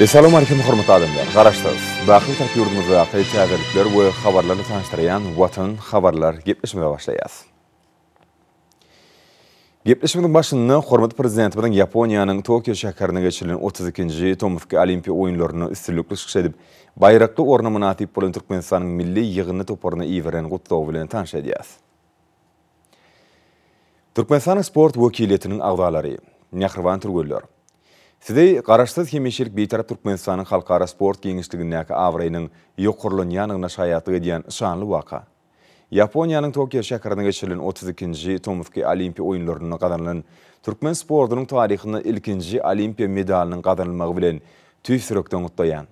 Essalawmalikim hormatly adamlar, Garaşsyz, baky Bitarap ýurdumyzdaky täzelikler we habarlar bilen tanyşdyrýan Watan habarlar gepleşigimize başlaýas. Gepleşigimiziň başynda hormatly Prezidentimiziň Ýaponiýanyň Tokio şäherinde geçirilen otuz ikinji tomusky Olimpiýa oýunlarynda üstünlikli çykyş edip, baýrakly orna mynasyp bolan Türkmenistanyň milli ýygyndy toparyna iberen gutlagy bilen tanyş edýäs. Türkmenistanyň sport wekiliýetiniň agzalary, mähriban türgenler! Sizi Garaşsyz, hemişelik Bitarap Türkmenistanyň halkara sport giňişligindäki abraýynyň ýokarlanýandygyna şaýatlyk edýän şanly waka, Ýaponiýanyň Tokio şäherinde geçirilen otuz ikinji tomusky Olimpiýa oýunlarynda gazanylan türkmen sportunyň taryhynda ilkinji Olimpiýa medalynyň gazanylmagy bilen tüýs ýürekden gutlaýan.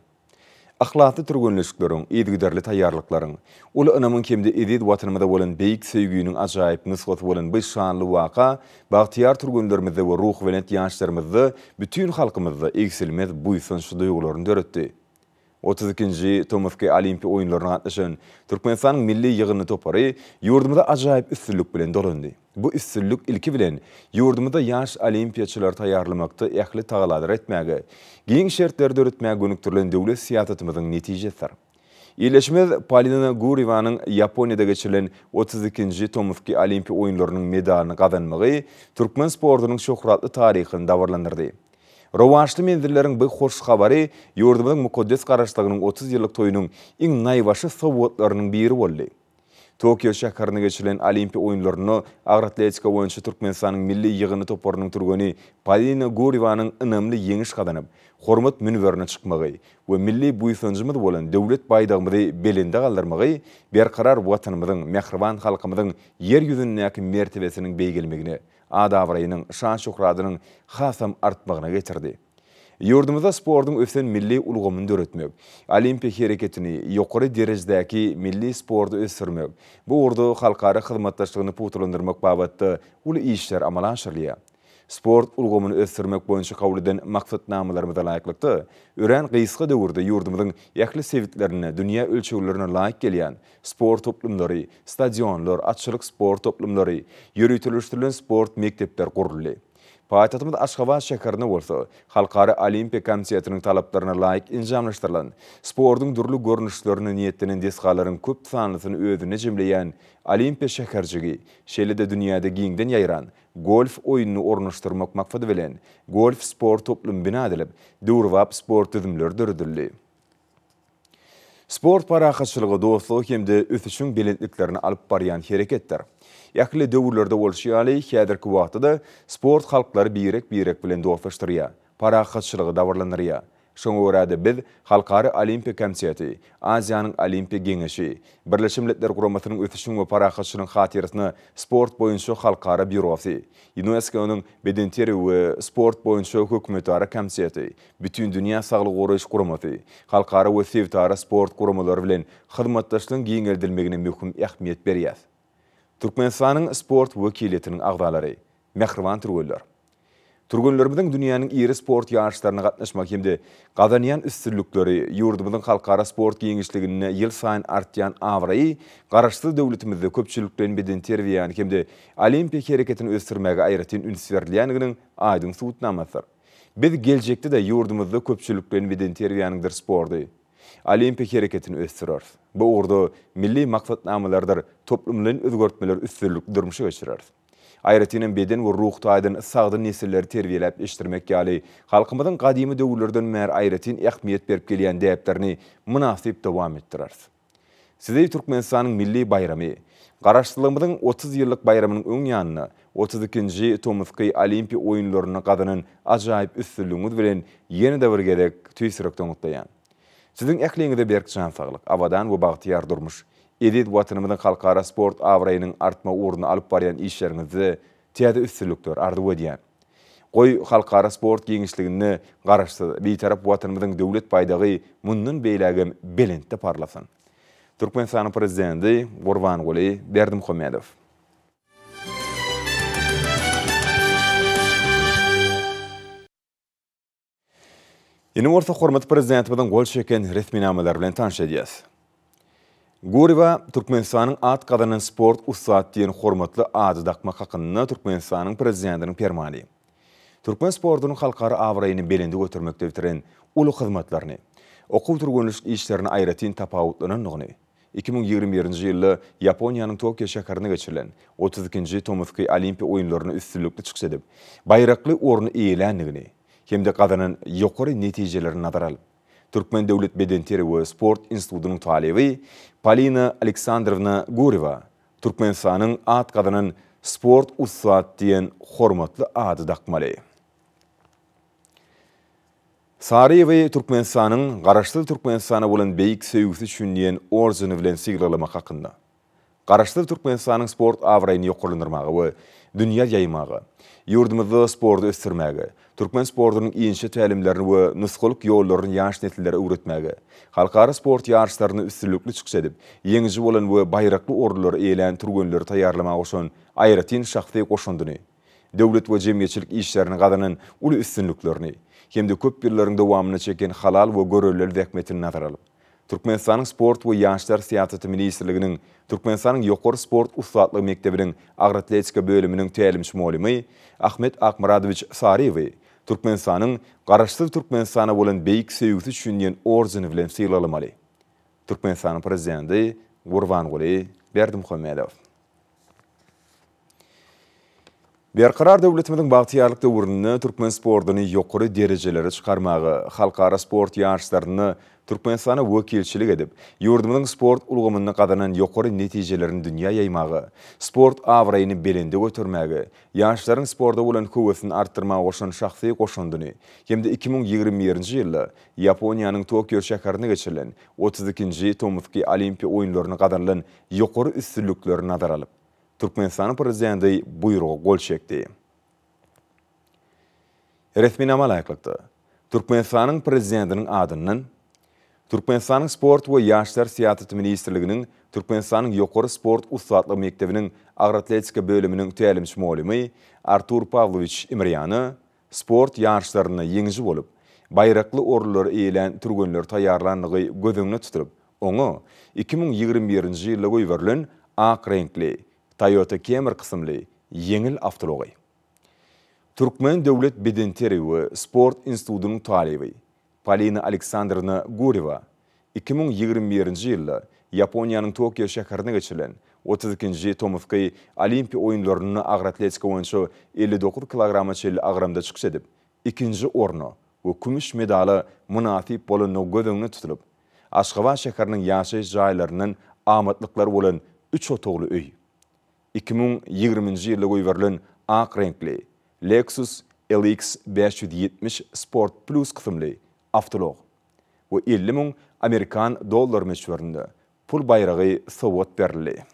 Yhlasly türgenleşikleriň, yzygiderli taýýarlyklaryň, uly ynamyň hem-de eziz Watanymyza bolan beýik söýginiň ajaýyp nusgasy bolan bu şanly waka bagtyýar türgenlerimizde we ruhubelent ýaşlarymyzda, bütin halkymyzda egsilmez buýsanç duýgularyny döretdi. Otuz ikinji tomusky Olimpiýa oýunlaryna gatnaşan Türkmenistanyň milli ýygyndy topary ýurdumyza ajaýyp üstünlik bilen dolandy. Bu üstünlik, ilki bilen, ýurdumyzda ýaş olimpiýaçylary taýýarlamakda ähli tagalary etmäge, giň şertleri döretmäge gönükdirilen döwlet syýasatymyzyň netijesidir. Ildeşimiz Polina Gurýewanyň Ýaponiýada geçirilen otuz ikinji tomusky Olimpiýa oýunlarynyň medalyny gazanmagy türkmen sportunyň şöhratly taryhyny dabaralandyrdy. Rowaçly menzilleriň bu hoş habary ýurdumyzyň mukaddes Garaşsyzlygynyň otuz ýyllyk toýunyň iň naýbaşy sowgatlarynyň biri boldy. Tokio şäherinde geçirilen Olimpiýa oýunlarynda agyr atletika boýunça Türkmenistanyň milli ýygyny toparynyň türgeni Polina Gurýewanyň ynamly ýeňiş gazanyp, hormat münberine çykmagy we milli buýsanjymyz bolan Döwlet baýdagymyzy belende galdyrmagy Berkarar Watanymyzyň, mähriban halkymyzyň Ýer ýüzündäki mertebesiniň beýgelmegine, at-abraýynyň, şan-şöhratynyň hasam artmagyna getirdi. Ýurdumyzda sportuň ösen milli ulgamyny döretmek, olimpiýa hereketini, ýokary derejedäki milli sporty ösdürmek, bu ugurda halkara hyzmatdaşlygyny pugtalandyrmak babatda uly işler amala aşyrylýar. Sport ulgamyny ösdürmek boýunça kabul eden maksatnamalarymyza laýyklykda, örän gysga döwürde ýurdumyzyň ähli sebitlerinde dünýä ölçeglerine laýyk gelýän sport toplumlary, stadionlar, atçylyk sport toplumlary, ýöriteleşdirilen sport mekdepler guruldy. Paýtagtymyz Aşgabat şäherinde bolsa, Halkara Olimpiýa komitetiniň talaplaryna laýyk enjamlaşdyrylan, sportuň dürli görnüşlerine niýetlenen desgalaryň köp sanlysyny özünde jemleýän Olimpiýa şäherjigi, şeýle-de dünýäde giňden ýaýran golf oýnuny ornaşdyrmak maksady bilen, golf-sport toplumy bina edilip, döwrebap sport düzümleri döredildi. Sport parahatçylygy, dostlugy hem-de ösüşiň belentliklerine alyp barýan hereketdir. Ähli döwürlerde bolşy ýaly, häzirki wagtda-da sport halklary birek-birek bilen dostlaşdyrýar, parahatçylygy dabaralandyrýar. Şoňa görä-de, biz Halkara Olimpiýa komiteti, Aziýanyň Olimpiýa geňeşi, Birleşen Milletler Guramasynyň Ösüşiň we parahatçylygyň hatyrasyna sport boýunça halkara býurosy, Ýunesko-nyň Bedenterbiýe we sport boýunça hökümetara komiteti, Bütindünýä saglygy goraýyş guramasy, halkara we sebitara sport guramalary bilen hyzmatdaşlygyň giňeldilmegine möhüm ähmiýet berýär. Türkmenistanyň sport wekiliýetiniň agzalary, mähriban türgenler! Türgenlerimiziň dünýäniň iri sport ýaryşlaryna gatnaşmagy hem-de gazanýan üstünlikleri, ýurdumyzyň halkara sport giňişliginde ýylsaýyn artýan abraýy Garaşsyz döwletimizde köpçülikleýin bedenterbiýäni hem-de olimpiýa hereketini ösdürmäge aýratyn üns berilýändiginiň aýdyň subutnamasydyr. Biz geljekde-de ýurdumyzda köpçülikleýin bedenterbiýäniňdir sporty, olimpiýa hereketini ösdüreris. Bu ugurda milli maksatnamalarydyr toplumlaýyn özgertmeleri üstünlikli durmuşa geçireris. Aýratyn hem beden we ruh taýdan sagdyn nesilleri terbiýeläp ýetişdirmek ýaly halkymyzyň gadymy döwürlerden bäri aýratyn ähmiýet berip gelýän däplerini mynasyp dowam etdireris. Sizi Türkmenistanyň milli baýramy, Garaşsyzlygymyzyň otuz ýyllyk baýramynyň öň ýanynda otuz ikinji tomusky Olimpiýa oýunlarynda gazanan ajaýyp üstünligiňiz bilen ýene-de bir gezek tüýs ýürekden gutlaýan. Siziň ähliňize berk jan saglyk, abadan we bagtyýar durmuş, eziz Watanymyzyň halkara sport abraýynyň artmagy ugrunda alyp barýan işleriňizde Täze üstünlikler arzuw edýän. Goý, halkara sport giňişliginde Garaşsyz, Bitarap Watanymyzyň Döwlet baýdagy mundan beýlägem belentde parlasyn! Türkmenistanyň Prezidenti Gurbanguly Berdimuhamedow. Indi bolsa hormatly Prezidentimiziň gol çeken resminamalary bilen tanyş edýäs. Guryba Türkmenistanyň at gazanan sport ussat diýen hormatly ady dakmak hakynda Türkmenistanyň Prezidentiniň Permany türkmen sportunyň halkara abraýyny belende götermekde bitiren uly hyzmatlaryny, okuw-türgenleşik işlerini aýratyn tapawutlanandygyny, Iki müň ýigrimi birinji ýylda Ýaponiýanyň Tokio şäherinde geçirilen otuz ikinji tomusky Olimpiýa oýunlaryna üstünlikli çykyş edip, baýrakly orny eýeländigini hem-de gazanan ýokary netijelerini nazara alyp, Türkmen döwlet bedenteri we sport institutynyň talyby Polina Aleksandrowna Gurewa Türkmenistanyň at gazanan sport ussat diýen hormatly ady dakmaly. Saryýewi Türkmenistanyň Garaşsyz Türkmenistana bolan beýik söýgüsi üçin diýen ordeni bilen sylaglamak hakynda. Garaşsyz Türkmenistanyň sport abraýyny ýokarlandyrmaga we dünýä ýaýmaga, ýurdumyzda sporty ösdürmäge, türkmen sportunyň inçe tälimlerini we nusgalyk ýollaryny ýaş nesillere öwretmäge, halkara sport ýaryşlarynda üstünlikli çykyş edip, ýeňiji bolan we baýrakly orunlary eýelän türgenleri taýýarlamaga goşan aýratyn şahsy goşandyny döwlet we jemgyýetçilik işlerinde gazanan uly üstünliklerini hem-de köp ýyllaryň dowamynda çeken halal we görellil zähmetini nazara alyp, Türkmenistanyň Sport we ýaşlar syýasaty ministrliginiň Türkmenistanyň Ýokary sport ussatlygy mekdebiniň agratletika bölüminiň tälimçi-mugallymy Ahmet Akmyradowiç Saryýewi Türkmenistanyň Garaşsyz Türkmenistana bolan beýik söýgüsi üçin diýen ordeni bilen sylaglamali. Türkmenistanyň Prezidenti Gurbanguly Berdimuhamedow. Berkarar döwletimiziň bagtyýarlyk döwründe türkmen sportuny ýokary derejelere çykarmaga, halkara sport ýaryşlarynda Türkmenistana wekilçilik edip, ýurdumyzyň sport ulgamynda gazanan ýokary netijelerini dünýä ýaýmaga, sport abraýyny belende götermäge, ýaşlaryň sporta bolan höwesini artdyrmaga goşan şahsy goşandyny hem-de iki müň ýigrimi birinji ýylda Ýaponiýanyň Tokio şäherinde geçirilen otuz ikinji Tomusky Olimpiýa oýunlarynda gazanylan ýokary üstünlikleri nazara alyp, Türkmenistanyň Prezidenti buýruga gol çekdi. Resminama laýyklykda, Türkmenistanyň Prezidentiniň adyndan Türkmenistanyň Sport we ýaşlar syýasaty ministrliginiň Türkmenistanyň Ýokary sport ussatlyk mekdebiniň agroatletika bölüminiň tälimçi-mugallymy Artur Pawlowiç Imrýana Sport ýaryşlarynda ýeňiji bolup, baýrakly orunlary eýelän türgenleri taýýarlandygy göz öňüne tutulyp, oňa iki müň ýigrimi birinji ýylda goýberilen ak reňkli Toyota Camry kysymly ýeňil awtoulagy. Türkmen döwlet bedenterbiýe we sport institutynyň talyby, Polina Aleksandrowna Gurewa iki müň ýigrimi birinji ýylda Ýaponiýanyň Tokio şäherinde geçirilen otuz ikinji tomusky Olimpiýa oýunlarynda agyr atletika boýunça elli dokuz kilograma çenli agramda çykyş edip, ikinji orna we kümüş medala mynasyp bolandygy göz öňünde tutulyp, Aşgabat şäheriniň ýaşaýyş jaýlaryndan amatlyklar bolan üç otagly öý, Iki müň ýigriminji ýylda goýberilen ak reňkli Lexus LX bäş ýüz ýetmiş Sport Plus kysymly awtoulag we elli müň amerikan dollary möçberinde pul baýragy sowgat berildi.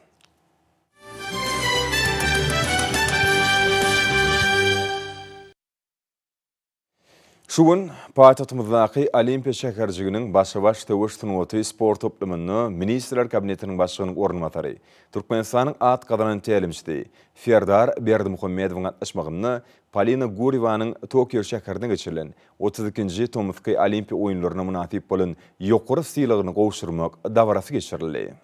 Şu gün paýtagtymyzdaky Olimpiýa şäherjiginiň Başa-baş söweş sungaty sport toplumynda Ministrler Kabinetiniň Başlygynyň orunbasary, Türkmenistanyň at gazanan tälimçisi Serdar Berdimuhamedowyň gatnaşmagynda Polina Gurýewanyň Tokio şäherinde geçirilen otuz ikinji tomusky Olimpiýa oýunlaryna mynasyp bolan ýokary sylagyny gowşurmak dabarasy geçirildi.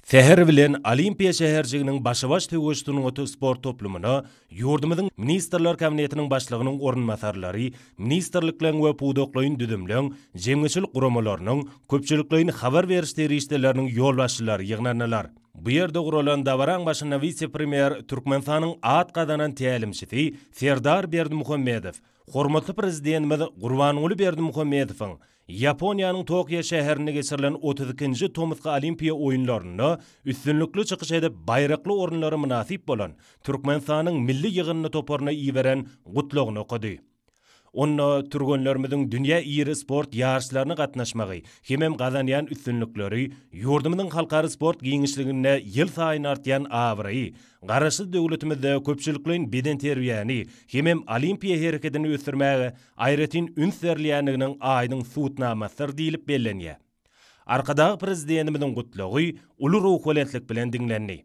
Säher bilen Olimpiýa şäherjiginiň başa-baş söweş sungaty sport toplumyna ýurdumyzyň Ministrler Kabinetiniň Başlygynyň orunbasarlary, ministrlikleň we pudaklaýyn düzümleň, jemgyýetçilik guramalarynyň, köpçülikleýin habar beriş serişdeleriniň ýolbaşçylary ýygnandylar. Bu ýerde guralan dabaraň başynda wise-premýer, Türkmenistanyň at gazanan tälimçisi Serdar Berdimuhamedow hormatly Prezidentimiz Gurbanguly Berdimuhamedowyň Ýaponiýanyň Tokio şäherinde geçirilen otuz ikinji tomusky Olimpiýa oýunlarynda üstünlikli çykyş edip, baýrakly orunlara mynasyp bolan Türkmenistanyň milli ýygyndy toparyna iberen Gutlagyny okady. Onda türgenlerimiziň dünýä iri sport ýaryşlaryna gatnaşmagy hemem gazanýan üstünlikleri ýurdumyzyň halkara sport giňişliginde ýylsaýyn artýan abraýy, Garaşsyz döwletimizde köpçülikleýin bedenterbiýäni hemem olimpiýa herekedini ösdürmäge aýratyn üns berilýändiginiň aýdyň subutnamasydyr diýlip bellenýär. Arkadag Prezidentimiziň Gutlagy uly ruhubelentlik bilen diňlendi.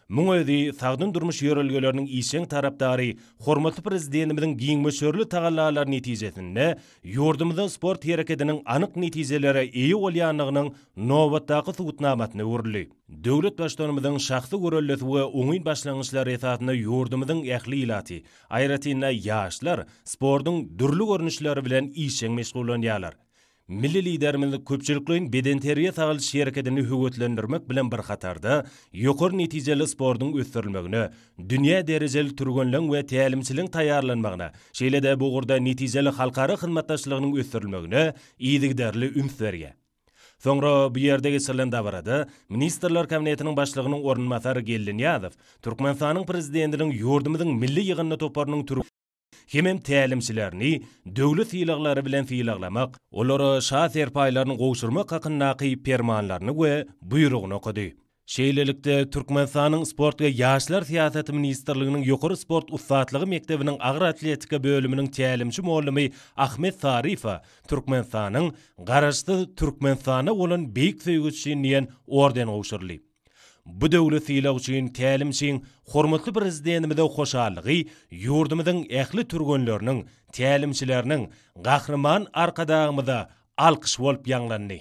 Muň özi sagdyn durmuş ýörelgeleriniň işjeň tarapdary hormatly Prezidentimiziň giň möçberli tagallalary netijesinde ýurdumyzda sport herekediniň anyk netijelere eýe bolýandygynyň nobatdaky subutnamasyna öwrüldi. Döwlet Baştutanymyzyň şahsy göreldesi we oňyn başlangyçlary esasynda ýurdumyzyň ähli ilaty, aýratyn-da, ýaşlar sportuň dürli görnüşleri bilen işjeň meşgullanýarlar. Milli Liderimiz köpçülikleýin bedenterbiýe-sagaldyş hereketini höweslendirmek bilen bir hatarda, ýokary netijeli sportuň ösdürilmegine, dünýä derejeli türgenleň we tälimçiliň taýýarlanmagyna, şeýle-de bu ugurda netijeli halkara hyzmatdaşlygynyň ösdürilmegine yzygiderli üns berýär. Soňra bu ýerde geçirilen dabarada Ministrler Kabinetiniň Başlygynyň orunbasary Geldi Nyýazow Türkmenistanyň Prezidentiniň ýurdumyzyň milli ýygyndy toparynyň türgen hemem tälimçilerini döwlet sylaglary bilen sylaglamak, olara şa serpaýlaryny gowşurmak hakyndaky Permanlaryny we Buýrugyny okady. Şeýlelikde, Türkmenistanyň Sport we ýaşlar syýasaty ministrliginiň Ýokary sport ussatlygy mekdebiniň agyr atletika bölüminiň tälimçi mugallamy Ahmet Sarifowa Türkmenistanyň Garaşsyz Türkmenistana bolan beýik söýgi üçin diýen orden gowşuryldy. Bu döwlet sylagy üçin tälimçiň hormatly Prezidentimize hoşallygy ýurdumyzyň ähli türgenleriniň, tälimçileriniň Gahryman Arkadagymyza alkyş bolup ýaňlandy.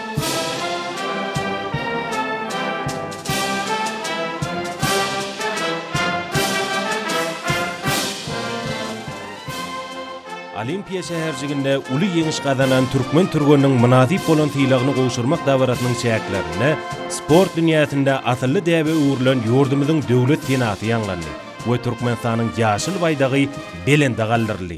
Olimpiýa şäherjiginde uly ýeňiş gazanan türkmen türgeniniň mynasyp bolan sylagyny gowşurmak dabarasynyň çäklerinde sport dünýäsinde asylly däbe öwrülen ýurdumyzyň Döwlet senasy ýaňlandy we Türkmenistanyň ýaşyl baýdagy belende galdyryldy.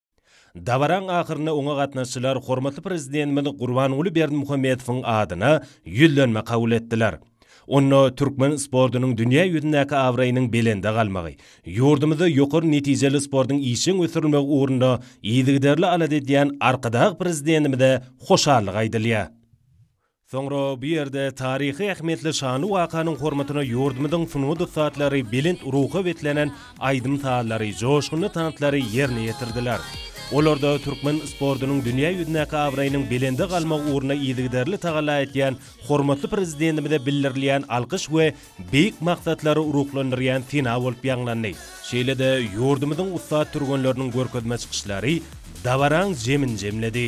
Dabaraň ahyrynda oňa gatnaşyjylar hormatly Prezidentimiz Gurbanguly Berdimuhamedowyň adyna Ýüzlenme kabul etdiler. Onda türkmen sportunyň dünýä ýüzündäki abraýynyň belende galmagy, ýurdumyzda ýokary netijeli sportuň işjeň ösdürilmegi ugrunda yzygiderli alada edýän Arkadag Prezidentimize hoşallyk aýdylýar. Soňra bu ýerde taryhy ähmiýetli şanly wakanyň hormatyna ýurdumyzyň sungat ussatlary belent ruha beslenen aýdym-sazlary, joşgunly tanslary ýerine ýetirdiler. Olarda türkmen sportunyň dünýä ýüzündäki abraýynyň belende galmagy ugrunda yzygiderli tagalla etýän hormatly Prezidentimize bildirilýän alkyş we beýik maksatlary ruhlandyrýan sena bolup ýaňlandy. Şeýle-de ýurdumyzyň ussat türgenleriniň görkezme çykyşlary dabaraň jemini jemledi.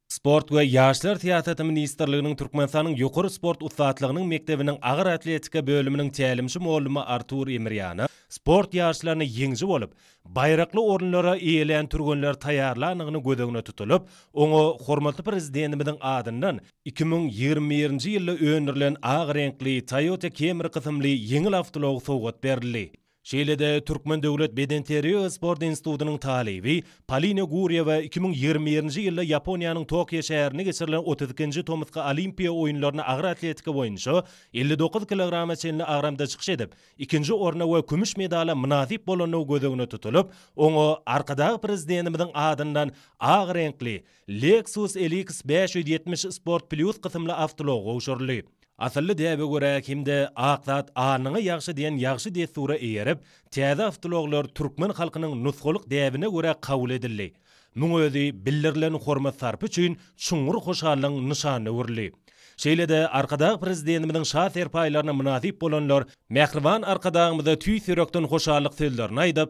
Sport we ýaşlar syýasaty ministrliginiň Türkmenistanyň ýokary sport ussatlygynyň mekdebiniň agyr atletika bölüminiň tälimçi mugallmy Artur Emirýana sport ýaryşlarynda ýeňiji bolup, baýrakly orunlary eýelän türgenleri taýýarlandygyny göz öňüne tutulyp, oňa hormatly Prezidentimiziň adyndan iki müň ýigrimi birinji ýylda öndürilen ak reňkli Toyota Camry kysymly ýeňil awtoulag sowgat berildi. Şeýle-de, Türkmen döwlet bedenterbiýe we sport institutynyň talyby Polina Gurýewa iki müň ýigrimi birinji ýylda Ýaponiýanyň Tokio şäherinde geçirilen otuz ikinji tomusky Olimpiýa oýunlaryna agyr atletika boýunça elli dokuz kilograma çenli agramda çykyş edip, ikinji orna we kümüş medala mynasyp bolandygy göz öňüne tutulyp, oňa Arkadag Prezidentimiziň adyndan ak reňkli Lexus LX bäş ýüz ýetmiş Sport Plus kysymly awtoulag gowşuryldy. Asylly däbe görä Kimde ak zat alnyňa ýagşy diýen ýagşy dessura eýerip, täze awtoulaglar türkmen halkynyň nusgalyk däbine görä kabul edildi. Muň özi bildirilen hormat-sarpa üçin çuňňur hoşallygyň nyşanyna öwrüldi. Şeýle-de Arkadag Prezidentimiziň şa serpaýlaryna mynasyp bolanlar Mähriban Arkadagymyza tüýs ýürekden hoşallyk sözlerini aýdyp,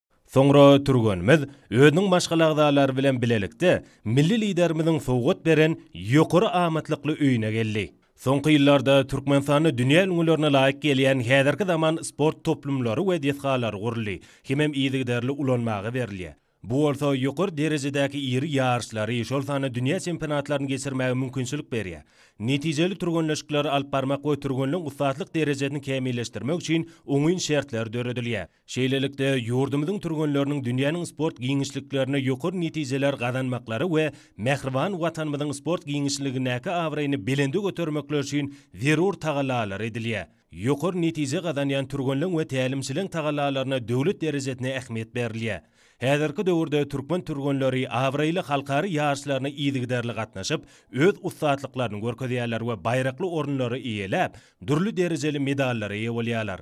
Soňra türgenimiz özüniň maşgala agzalary bilen bilelikde milli Liderimiziň sowgat beren ýokary amatlykly öýüne geldi. Soňky ýyllarda Türkmenistanda dünýä ülňülerine laýyk gelýän häzirki zaman sport toplumlary we desgalary guruldy hemem yzygiderli ulanmaga berilýär. Bu bolsa ýokary derejedäki iri ýaryşlary, şol sanda dünýä çempionatlaryny geçirmäge mümkinçilik berýär. Netijeli türgenleşikleri alyp barmak we türgenleň ussatlyk derejesini kämilleşdirmek üçin oňyn şertler döredilýär. Şeýlelikde, ýurdumyzyň türgenleriniň dünýäniň sport giňişliklerinde ýokary netijeler gazanmaklary we mähriban Watanymyzyň sport giňişligindäki abraýyny belende götermekleri üçin zerur tagallalar edilýär. Ýokary netije gazanýan türgenleň we tälimçileň tagallalaryna döwlet derejesinde ähmiýet berilýär. Häzirki döwürde türkmen türgenleri abraýly halkara ýaryşlaryna yzygiderli gatnaşyp, öz ussatlyklaryny görkezýärler we baýrakly orunlary eýeläp, dürli derejeli medallara eýe bolýarlar.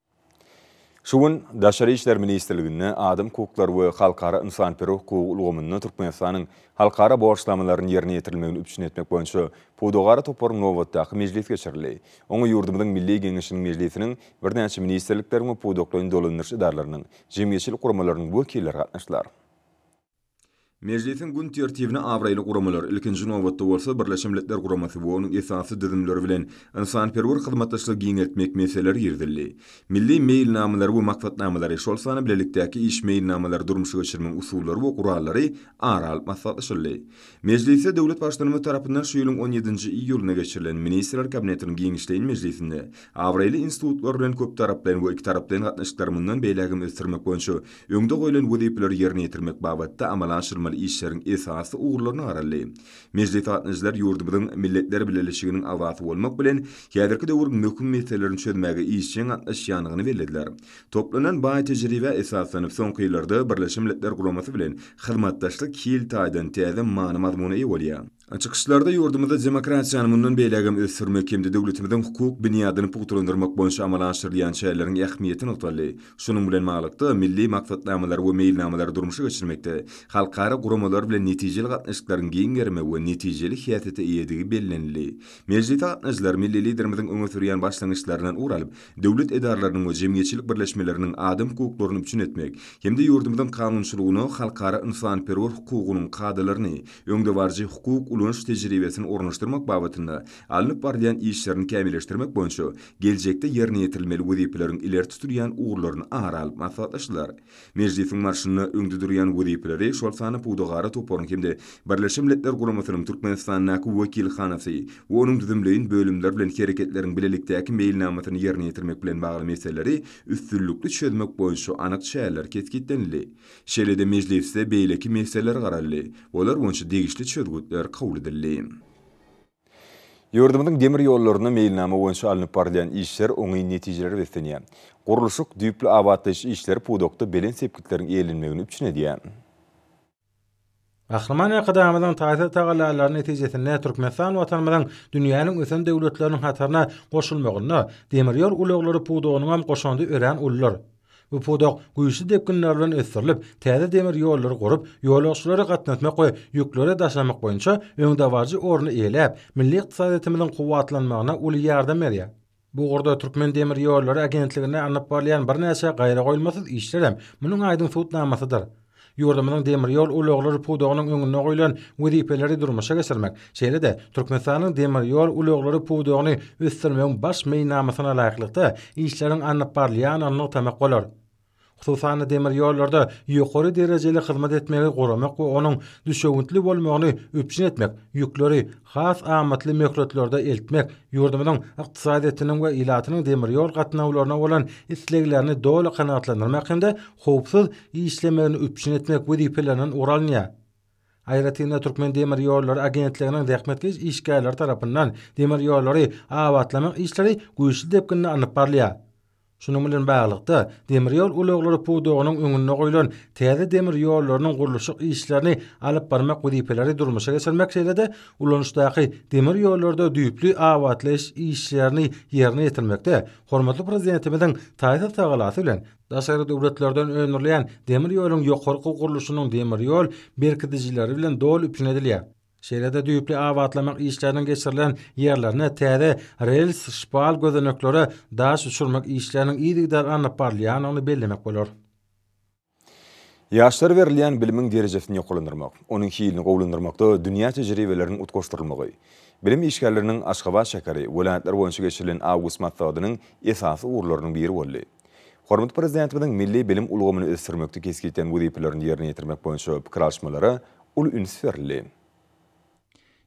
Şu gün Daşary işler ministrliginde Adam hukuklary we halkara ynsanperwer hukugy ulgamynda Türkmenistanyň halkara borçnamalarynyň ýerine ýetirilmegini üpjün etmek boýunça Pudagara toparyň nobatdaky mejlisi geçirildi. Oňa ýurdumyzyň Milli Geňeşiniň Mejlisiniň, birnäçe ministrlikleriň we pudaklaýyn dolandyryş edaralarynyň, jemgyýetçilik guramalarynyň wekilleri gatnaşdylar. Mejlisiň gün tertibine abraýly guramalar, ilkinji nobatda bolsa, Birleşen Milletler Guramasy we onuň esasy düzümleri bilen ynsanperwer hyzmatdaşlygy giňeltmek meseleleri girizildi. Milli meýilnamalary we maksatnamalary, şol sanda bilelikdäki iş meýilnamalary durmuşa geçirmegiň usullary we gurallary ara alyp maslahatlaşyldy. Mejlisde döwlet Baştutanymyz tarapyndan şu ýylyň on ýedinji iýulynda geçirilen Ministrler Kabinetiniň giňişleýin mejlisinde abraýly institutlar bilen köptaraplaýyn we ikitaraplaýyn gatnaşyklary mundan beýläk hem ösdürmek boýunça Öňde goýlan wezipeleri ýerine ýetirmek babatda amala aşyrmaly işleriň esasy ugurlaryna garaldy. Mejlis gatnaşyjylar ýurdumyzyň Milletler Bileleşiginiň agzasy bolmak bilen, häzirki döwrüň möhüm meselelerini çözmäge işjeň gatnaşýandygyny bellediler. Toplanan baý tejribä esaslanyp, soňky ýyllarda Birleşen Milletler Guramasy bilen hyzmatdaşlyk hil taýdan täze many-mazmuna eýe bolýar. Çykyşlarda ýurdumyzda demokratiýany mundan beýlägem ösdürmek hem-de döwletimiziň hukuk binýadyny pugtalandyrmak boýunça amala aşyrylýan çäreleriň ähmiýeti nygtaldy. Şunuň bilen baglylykda, milli maksatnamalary we meýilnamalary durmuşa geçirmekde halkara guramalar bilen netijeli gatnaşyklaryň giň gerime we netijeli häsiýete eýedigi bellenildi. Mejlise gatnaşyjylar milli Liderimiziň öňe sürýän başlangyçlaryndan ugur alyp, döwlet edaralarynyň we jemgyýetçilik birleşmeleriniň adam hukuklaryny üpjün etmek hem-de ýurdumyzyň kanunçylygyna, halkara ynsanperwer hukugynyň kadalaryny, öňdebaryjy hukuk ulanyş tejribesini ornaşdyrmak babatynda alnyp barylýan işlerini kämilleşdirmek boýunça geljekde ýerine ýetirilmeli wezipeleriň ileri tutulýan ugurlaryny ara alyp maslahatlaşdylar. Mejlisiň barşynda öňde durýan wezipeleri, şol sanda Pudagara toparyň hem-de Birleşen Milletler Guramasynyň Türkmenistandaky wekilhanasy we onuň düzümleýin bölümleri bilen hereketleriň bilelikdäki meýilnamasyny ýerine ýetirmek bilen bagly meseleleri üstünlikli çözmek boýunça anyk çäreler kesgitlenildi. Şeýle-de mejlisde beýleki meseleler garaldy, olar boýunça degişli çözgütler kabul edildi. Ýurdumyzyň demir ýollarynda meýilnama boýunça alnyp barylýan işler oňyn netijelere beslenýär. Gurluşyk, düýpli abatlaýyş işleri pudakda belent sepgitleriň eýlenmegini üpjün edýär. Gahryman Arkadagymyzyň taýsyz tagallalary netijesinde Türkmenistan Watanymyzyň dünýäniň ösen döwletleriniň hataryna goşulmagynda demir ýol ulaglary pudagynyň hem goşandy örän uludyr. Bu pudak güýçli depginler bilen ösdürilip, täze demir ýollary gurup, ýolagçylary gatnatmak we ýükleri daşamak boýunça öňdebaryjy orny eýeläp, milli ykdysadyýetimiziň kuwwatlanmagyna uly ýardam berýär. Bu ugurda Türkmendemirýollary agentliginde alnyp barylýan birnäçe gaýragoýulmasyz işler hem munuň aýdyň subutnamasydyr. Ýurdumyzyň demir ýol ulaglary pudagynyň öňünde goýlan wezipeleri durmuşa geçirmek, şeýle-de Türkmenistanyň demir ýol ulaglary pudagyny ösdürmegiň baş meýilnamasyna laýyklykda işleriň alnyp barylýandygyny nygtamak bolar. Hususan-da, demir ýollarda ýokary derejeli hyzmat etmegi goramak we onuň düşewüntli bolmagyny üpjün etmek, ýükleri has amatly möhletlerde eltmek ýurdumyzyň ykdysadyýetiniň we ilatynyň demir ýol gatnawlaryna bolan isleglerini doly kanagatlandyrmak hem-de howpsuz işlemegini üpjün etmek wezipelerinden ugur alynýar. Aýratyn-da, Türkmen demir ýollary agentliginiň zähmetkeş işgärleri tarapyndan demir ýollary abatlamak işleri güýçli depginde alnyp barylýar. Şunuň bilen baglylykda, demir ýol ulaglary pudagynyň öňünde goýlan täze demir ýollarynyň gurluşyk işlerini alyp barmak wezipeleri durmuşa geçirmek şeýle-de ulanyşdaky demir ýollarda düýpli abatlaýyş işlerini ýerine ýetirmekde hormatly Prezidentimiziň taýsyz tagallasy bilen daşary döwletlerden öndürilýän demir ýoluň ýokarky gurluşynyň demir ýol berkidijileri bilen doly üpjün edilýär. Şeýle-de düýpli abatlamak işleriniň geçirilen ýerlerine täze rels-şpal gözeneklere daş düşürmek işleriniň yzygider alnyp barylýandygyny bellemek bolar. Ýaşlara berilýän bilimiň derejesini ýokarlandyrmak, onuň hilini gowulandyrmakda dünýä tejribeleriniň utgaşdyrylmagy, bilim işgärleriniň Aşgabat şäheri, welaýatlar boýunça geçirilen awgust maslahatynyň esasy ugurlarynyň biri boldy. Hormatly Prezidentimiziň milli bilim ulgamyny ösdürmekde kesgitlen wezipelerini ýerine ýetirmek boýunça pikir alyşmalara uly üns berildi.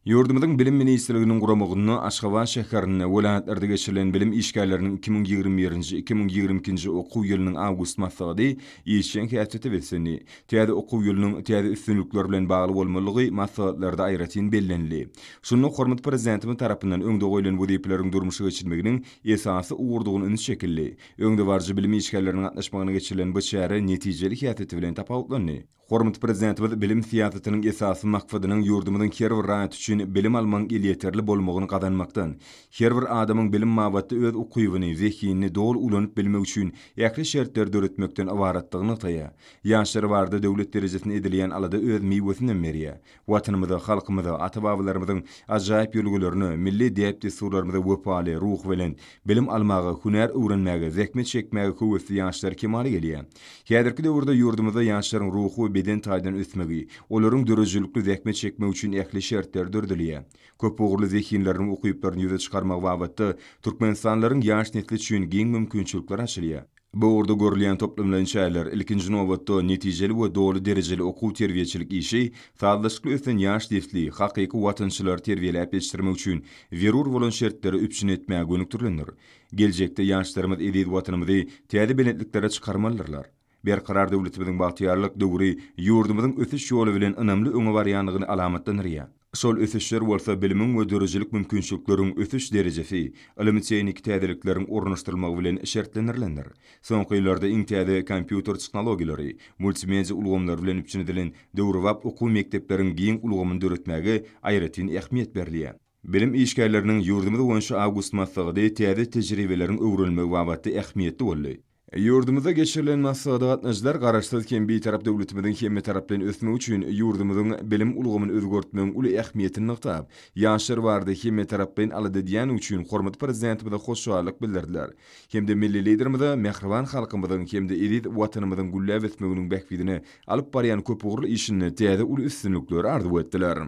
Ýurdumyzyň Bilim ministrliginiň guramagynda Aşgabat şäherinde, welaýatlarda geçirilen bilim işgärleriniň iki müň ýigrimi birinji, iki müň ýigrimi ikinji okuw ýylynyň awgust maslahaty işjeň häsiýete beslendi. Täze okuw ýylynyň täze üstünlikler bilen bagly bolmalydygy maslahatlarda aýratyn bellenildi. Şunda hormatly Prezidentimiz tarapyndan öňde goýlan wezipeleriň durmuşa geçirilmeginiň esasy ugurdygyna ünsi çekildi. Öňdebaryjy bilim işgärleriniň gatnaşmagynda geçirilen bu çäre netijeli häsiýeti bilen tapawutlandy. Hormatly Prezidentimiz bilim syýasatynyň esasy maksadynyň ýurdumyzyň her bir raýaty üçin bilim almagyň elýeterli bolmagyny gazanmakdan, her bir adamyň bilim babatda öz ukybyny, zehinini doly ulanyp bilmegi üçin ähli şertleri döretmekden ybaratdygyny nygtaýar. Ýaşlar barada döwlet derejesinde edilýän alada öz miwesinem berýär. Watanymyza, halkymyza, ata-babalarymyzyň ajaýyp ýörelgelerine, milli däp-dessurlarymyza wepaly, ruhubelent, bilim almaga, hünär öwrenmäge, zähmet çekmäge höwesli ýaşlar kemala gelýär. Häzirki döwürde ýurdumyzda ýaşlaryň ruhy we beden taýdan ösmegi, olaryň döredijilikli zähmet çekmegi üçin ähli şertler döredilýär. Köpugurly zehinleriniň ukyplaryny ýüze çykarmagy babatda türkmenistanlylaryň ýaş nesli üçin giň mümkinçilikler açylýar. Bu ugurda görülýän toplumlaýyn çäreler, ilkinji nobatda, netijeli we doly derejeli okuw-terbiýeçilik işi, sazlaşykly ösen ýaş nesli, hakyky watançylary terbiýeläp ýetişdirmek üçin zerur bolan şertleri üpjün etmäge gönükdirilendir. Geljekde ýaşlarymyz eziz Watanymyzy täze belentliklere çykarmalydyrlar. Berkarar döwletimiziň bagtyýarlyk döwri ýurdumyzyň ösüş ýoly bilen ynamly öňe barýandygyny alamatlandyrýar. Şol ösüşler bolsa bilimiň we döredijilik mümkinçilikleriň ösüş derejesi, ylmy-tehniki täzelikleriň ornaşdyrylmagy bilen şertlendirilendir. Soňky ýyllarda iň täze kompýuter tehnologiýalary, multimedia ulgamlary bilen üpjün edilen döwrebap okuw mekdepleriň giň ulgamyny döretmäge aýratyn ähmiýet berilýär. Bilim işgärleriniň ýurdumyz boýunça awgust maslahaty täze tejribeleriň öwrenilmegi babatda ähmiýetli boldy. Ýurdumyzda geçirilen maslahata gatnaşyjylar Garaşsyz hem Bitarap döwletimiziň hemmetaraplaýyn bilen ösmegi üçin ýurdumyzyň bilim ulgamyny özgertmegiň uly ähmiýetini nygtap, ýaşlar barada hemmetaraplaýyn alada edýändigi üçin hormatly Prezidentimize hoşallyk bildirdiler hem-de milli Liderimize mähriban halkymyzyň hem-de eziz Watanymyzyň gülläp ösmeginiň bähbidine alyp barýan köpugurly işinde täze uly üstünlikleri arzuw etdiler.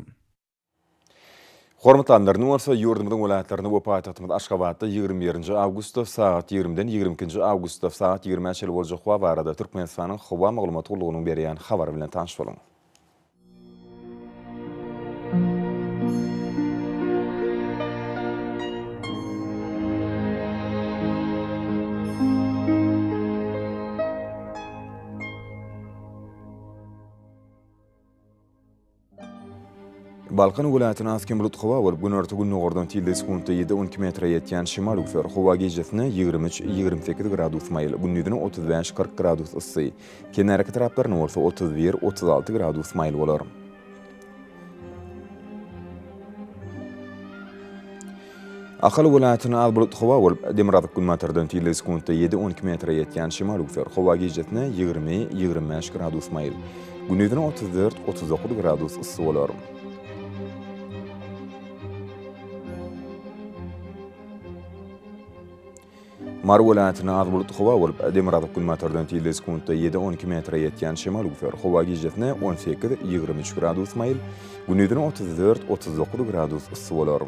Hormatlanlar, indi bolsa ýurdumyzyň welaýatlaryna we paýtagtymyz Aşgabatda ýigrimi birinji awgustda sagat ýigrimiden ýigrimi ikinji awgustda sagat ýigrimä çenli boljak howa barada Türkmenistanyň Howa maglumat gullugynyň berýän habary bilen tanyş boluň. Balkan welaýatyna has kem bulut howa bolup, günorta-gündogardan tilde sekuntda ýedi-on iki metre ýetýän şemal üwser. Howa gijesine ýigrimi üç, ýigrimi sekiz gradus maýyl, gündiziň otuz bäş, kyrk gradus yssy, kenarýaka etraplaryna bolsa otuz bir, otuz alty gradus maýyl bolar. Ahal welaýatyna az bulutly howa bolup, demirgazyk günbatardan fille sekuntda ýedi, on iki metre ýetýän şemal öwser. Howa gijesine ýigrimi, ýigrimi bäş gradus maýyl, gündizine otuz dört, otuz dokuz gradus yssy bolar. Mary welaýatynda az bulutly howa bolup, demirgazyk-günbatardan tizligi sekuntda ýedi-on iki metre ýetýän şemal üwser. Howa gijesine on sekiz-ýigrimi üç gradus maýyl, gündizine otuz dört-otuz dokuz gradus yssy bolar.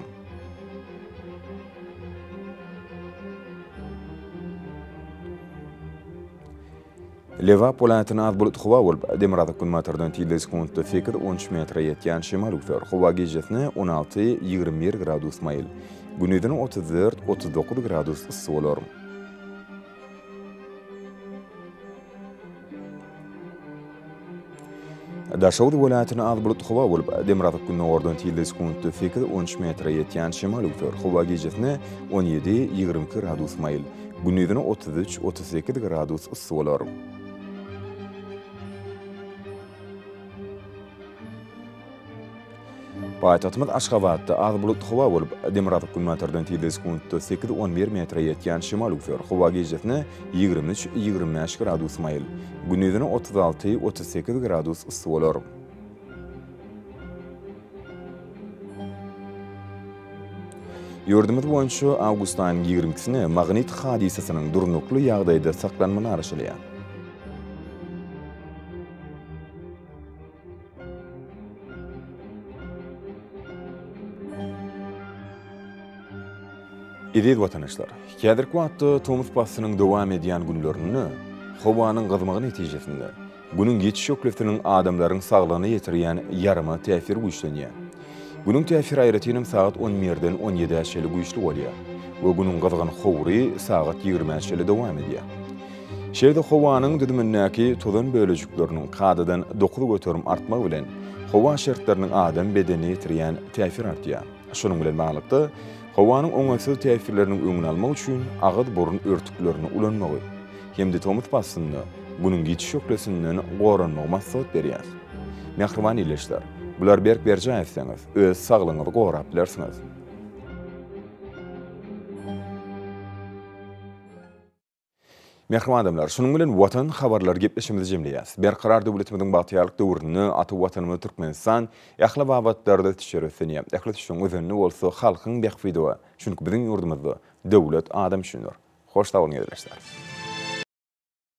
Lebap welaýatyna az bulut howa bolup, demirgazyk-günbatardan tizligi sekuntda sekiz, on üç metre ýetýän şemal öwser. Howa gijesine on alty, ýigrimi bir gradus maýyl. Gündizine otuz dört, otuz dokuz gradus yssy bolar. Daşoguz welaýatynda az bulutly howa bolup, demirgazyk gündogardan tilde sekuntda sekiz, on üç metre ýetýän şemal öwser. Howa gijesine on ýedi, ýigrimi iki gradus maýyl, gündizine otuz üç, otuz sekiz gradus yssy bolar. Paýtagtymyz Aşgabatda az bulutly howa bolup, demirgazyk günbatardan tizligi sekuntda sekiz, on bir metre ýetýän şemal üwser. Howa gijesine ýigrimi üç, ýigrimi bäş gradus maýyl, gündizine otuz alty, otuz sekiz gradus yssy bolar. Ýurdumyz boýunça awgust aýynyň ýigrimi ikisine magnit hadysasynyň durnukly ýagdaýda saklanmagy garaşylýar. Eziz watandaşlar! Häzirki wagtda tomus paslynyň dowam edýän günlerinde howanyň gyzmagy netijesinde, Günüň geçiş şöhlesiniň adamlaryň saglygyna ýetirýän ýaryma täsiri güýçlenýär. Günüň täsir aýratynam sagat on birden on ýedä çeli güýçli bolýar we Günüň gyzgyn howry sagat ýigrimä çeli dowam edýär. Şeýle-de howanyň düzümindäki tozan bölejikleriniň kadadan dokuz göterim artmagy bilen howa şertleriniň adam bedenine ýetirýän täsir artýar. Şunuň bilen baglylykda, howanyň oňaýsyz täsirleriniň öňüni almak üçin agyz-burun örtüklerini ulanmagy, hem-de tomus paslynda Günüň giç şöhlesinden goranmagy maslahat berýär. Mähriban ildeşler, bulary berk berjaý etseňiz, öz saglygyňyzy gorap bilersiňiz. Mähriban adamlar, şunuň bilen Watan habarlary gepleşigimizi jemleýäs. Berkarar döwletimiziň bagtyýarlyk döwründe ata Watanymyz Türkmenistan ähli babatlarda ösüşe röslenýär. Ähli ösüşiň özenini bolsa halkyň bähbidi we çünki biziň ýurdumyzda Döwlet, adam üçindir. Hoş sag boluň Gezreçler.